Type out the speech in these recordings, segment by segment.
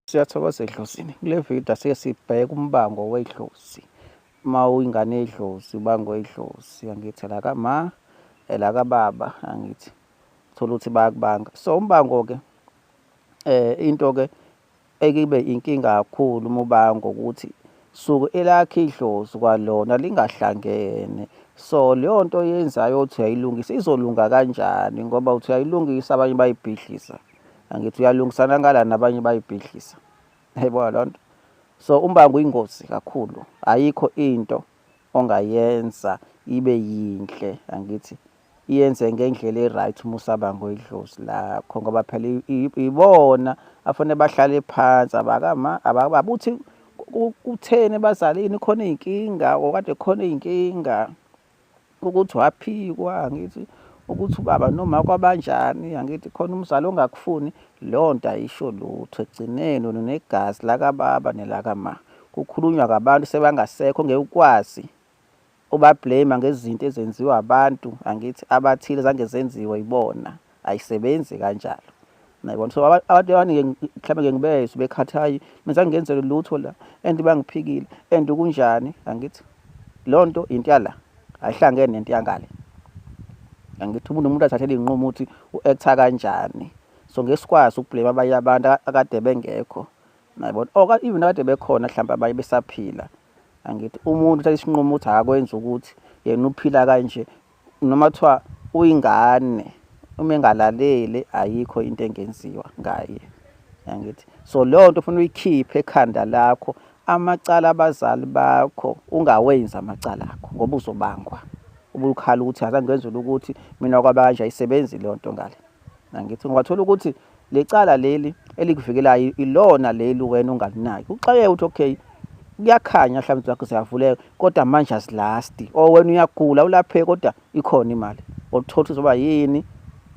Siyathokoza edlozini. Kule video asike sibheke umbango wedlozi. Uma uyingane yedlozi ubango wedlozi angithi la kama la kababa angithi thola ukuthi bayakubanga. So umbango ke eh into ke ekibe inkinga kakhulu umubango ukuthi suke elakhe idlozi kwalona lingahlangene so leyo nto yenzayo uthi uyayilungisa izolunga kanjani ngoba uthi uyayilungisa abanye bayibhidlisa. angithi uyalungisana ngala nabanye bayibhidlisa yayibona loo nto so umbango uyingozi kakhulu ayikho into ongayenza ibe yinhle angithi iyenze ngendlela e-right uma usabanga idlozi lakho ngoba phela ibona afanele bahlale phansi abakama ababuthi kutheni bazalini khona iy'nkinga okade khona iy'nkinga ukuthi waphikwa angithi ukuthi ubaba noma kwabanjani angithi khona umzali ongakufuni leyo nto ayisho lutho ekugcineni wena unegazi lakababa nelakama kukhulunywa kabantu sebangasekho ngeke ukwazi ubablame ngezinto ezenziwa abantu angithi abathile zange zenziwe yibona ayisebenzi kanjalo nayibona so abantu abaningi mhlawumbe ke ngibezwe bekhathayi mina ngenzele lutho la and bangiphikile and kunjani angithi loo nto into yala ayihlangene nento yangale angithi umuntu umuntu athathele iy'nqumo ukuthi u-actha kanjani so ngeke sikwazi ukublame abanye abantu akade bengekho nayibona or oh, even akade bekhona mhlawumbe abanye besaphila angithi umuntu uthatha isinqumo ukuthi akakwenza ukuthi yena uphila kanje noma kuthiwa uyingane uma engalaleli ayikho into engenziwa ngaye yangithi so leyo nto ufuna uyikhiphe ekhanda lakho amacala abazali bakho ungawenzi amacala akho ngoba uzobangwa ubukhala ukuthi azange ngenzele ukuthi mina kwabanje ayisebenzi leyo nto ngale Angithi ngiwathola ukuthi lecala leli elikuvikelayo ilona leli wena ungalinaki. Uxakeke uthi okay kuyakhanya mhlawumbe zakho ziyavuleka kodwa manje azilasti or oh, wena uyagula ulapheke kodwa ikhona imali othothi uzoba yini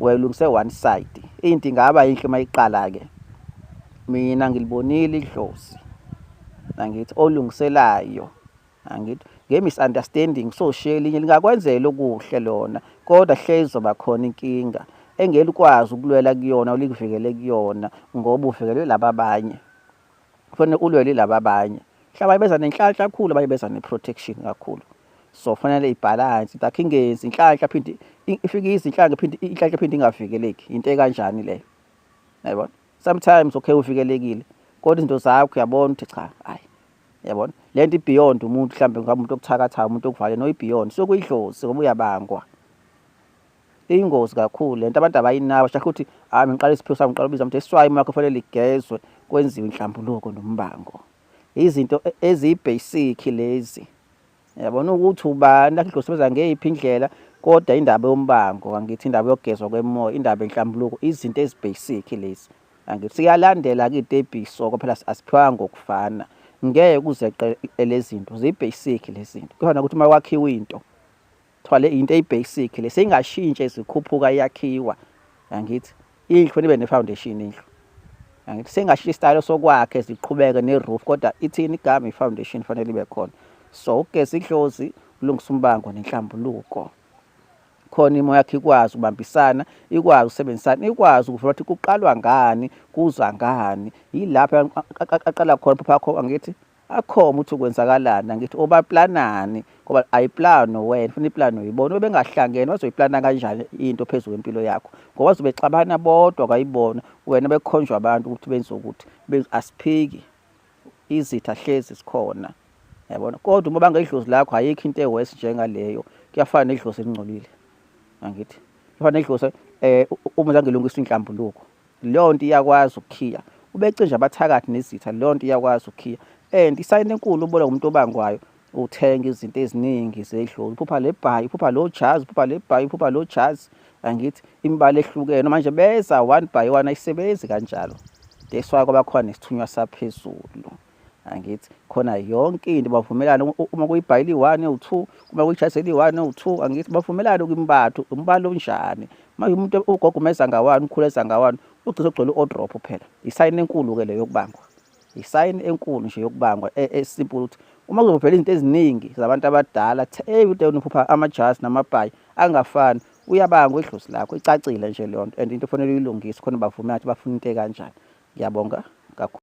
wayilungise one side into ingaba yinhle uma iqala ke mina ngilibonile idlozi nangithi olungiselayo angithi nge-misunderstanding so shiye elinye lingakwenzela okuhle lona kodwa hlezi zoba khona inkinga engelikwazi ukulwela kuyona olikuvikele kuyona ngoba uvikelwe laba abanye kufanele ulwele laba abanye mhlawumbe beza nenhlanhla kakhulu abanye beza ne-protection kakhulu so fanele ibhalansi dakhe ingenzi inhlanhla phinde ifike izinhlanhla phinde inhlanhla phinde ingavikeleki into ekanjani leyo yayibona sometimes okay uvikelekile kodwa izinto zakho uyabona ukuthi cha hayi yabona le nto ibeyond umuntu mhlawumbe ngabe umuntu okuthakathayo umuntu okuvale no ibeyond sokuyidlozi ngoba uyabangwa iyingozi kakhulu lento abantu abayinabo shakhe ukuthi hayi ngiqala isiphiwo sami ngiqala ubiza mthi iswayi uma yakho fanele ligezwe kwenziwe inhlambuluko nombango izinto e-, eziyibasic lezi yabona ukuthi ubani lakhe idlosibeza ngeyiphi indlela kodwa indaba yombango angithi indaba yogezwa kwemoya indaba enhlambuluko izinto ezibasic lezi angithi siyalandela ke itebiso kwaphela asiphiwanga ngokufana ngeke kuzeqe lezinto zibasic lezinto kuyona ukuthi uma wakhiwa into kuthiwa le into eyibasic le seyingashintsha izikhuphuka iyakhiwa angithi indlu nibe nefoundation indlu angithi sengashiya isitayelo sokwakhe ziqhubeke neroof kodwa ithini igama ifoundation fanele ibe khona so ugeza idlozi ulungisa umbango nenhlambuluko khona imo yakhe ikwazi ukubambisana ikwazi ukusebenzisana ikwazi ukuvula ukuthi kuqalwa ngani kuza ngani yilapho aqala khona phapha angithi akhoma ukuthi ukwenzakalana ngithi obaplanani ngoba ayiplano wena funa iplano uyibona obengahlangene wazoyiplana kanjani into phezulu kwempilo yakho ngoba wazobe xabana bodwa kwayibona wena bekhonjwa abantu ukuthi benze ukuthi asiphiki izitha hlezi sikhona yabona kodwa uma bangedlozi lakho ayikho into ewesi njengaleyo kuyafana nedlozi elingcolile angithi kuyafana nedlozi eh uma zangelungisa inhlambuluko leyo nto iyakwazi ukukhiya ubecinja abathakathi nezitha leyo nto iyakwazi ukukhiya and isayini enkulu ubola umuntu obangwayo uthenga izinto eziningi zedlula uphupha le bhayi uphupha lo jazi uphupha le bhayi uphupha lo jazi angithi imibala ehlukene manje beza one by one ayisebenzi kanjalo that's why kwabakhona nesithunywa saphezulu angithi khona yonke into bavumelana uma kuyibhayili one u two uma kuyijazeli one u two angithi bavumelana ukimbathu umbala onjani manje umuntu ugogo umeza ngawani ukhuleza ngawani ugcisa ogcwele u-odrop phela isayini enkulu-ke le yokubangwa isayini enkulu nje yokubangwa e, esimple ukuthi uma kuzovela izinto eziningi zabantu abadala hey ude unophupha amajazi namabhayi angafani uyabanga idlozi lakho icacile nje leyo nto and into ofanele uyilungise khona bavumela ukuthi bafuna into ekanjani ngiyabonga kakhulu